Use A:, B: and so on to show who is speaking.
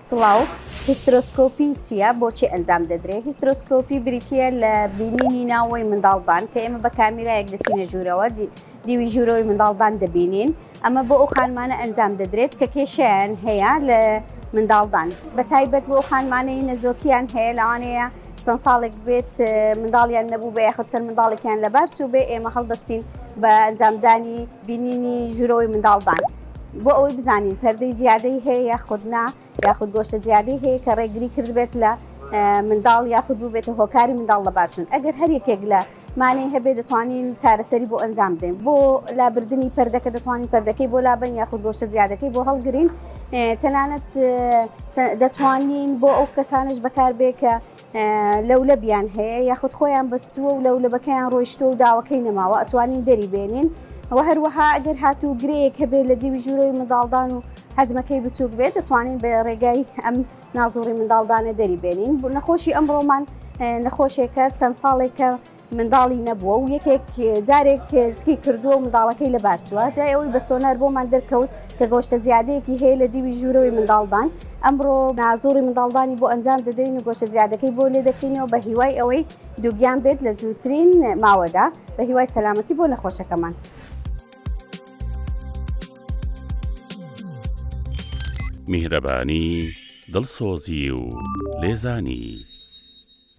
A: سڵاو، هیسترۆسکۆپی چییە؟ بۆچی ئەنجام دەدرێت؟ هیسترۆسکۆپی بریتییە لە بینینی ناوەوەی منداڵدان کە ئێمە بە کامیرایەک دەچینە ژوورەوە دیوی ژوورەوەی منداڵدان دەبینین ئەمە بۆ ئەو خانمانە ئەنجام دەدرێت کە کێشیان هەیە لە منداڵدان بە تایبەت بۆ خانمانەی نەزۆکیان هەیە لەوانەیە چەند ساڵێک بێت منداڵیان نەبوو بە یاخود چەند منداڵێکیان لەبار چوو بێ ئێمە هەڵدەستین بە ئەنجامدانی بینینی ژوورەوەی منداڵدان بۆ ئەوەی بزانین پەردەی زیادەی هەیە یاخود نا یاخود گۆشتە زیادەی هەیە کە ڕێگری کردبێت لە منداڵ یاخود بووبێتە هۆکاری منداڵ لە بارچون ئەگەر هەر یەکێک لە مانەی هەبێ دەتوانین چارەسەری بۆ ئەنجام بدەین بۆ لابردننی پردەکە دەتوانین پردەکەی بۆ لابن یاخود گۆشتە زیادەکەی بۆ هەڵگرین تەنانەت دەتوانین بۆ ئەو کەسانش بەکاربێ کە لەولەبیان هەیە یاخود خۆیان بەستووە و لەولەبەکەیان ڕۆیشتووە و داوەکەی نەماوە ئەتوانین دەری بێنین و هەروەها گەر هاتوو گرێیەک هەبێت لە دیوی ژوورەوەی منداڵدان و حەجمەکەی بچووک بێت دەتوانین بە ڕێگای ئەم نازوڕی منداڵدانە دەری بێنین بوو نەخۆشی ئەمڕۆمان نەخۆشێکە چەند ساڵێکە منداڵی نەبووە و یەکێک جارێک سکی کردووە و منداڵەکەی لەبار چووە جای ئەوەی بە سۆنار بۆمان دەرکەوت کە گۆشتە زیادەیەکی هەیە لە دیوی ژوورەوەی منداڵدان ئەمڕۆ نازۆری منداڵدانی بۆ ئەنجام دەدەین و گۆشتە زیادەکەی بۆ لێ دەکەینەوە بە هیوای ئەوەی دووگیان بێت لە زووترین ماوەدا بە هیوای سەلامەتی بۆ نەخۆشەکەمان.
B: میهرەبانی دڵسۆزی و لێزانی.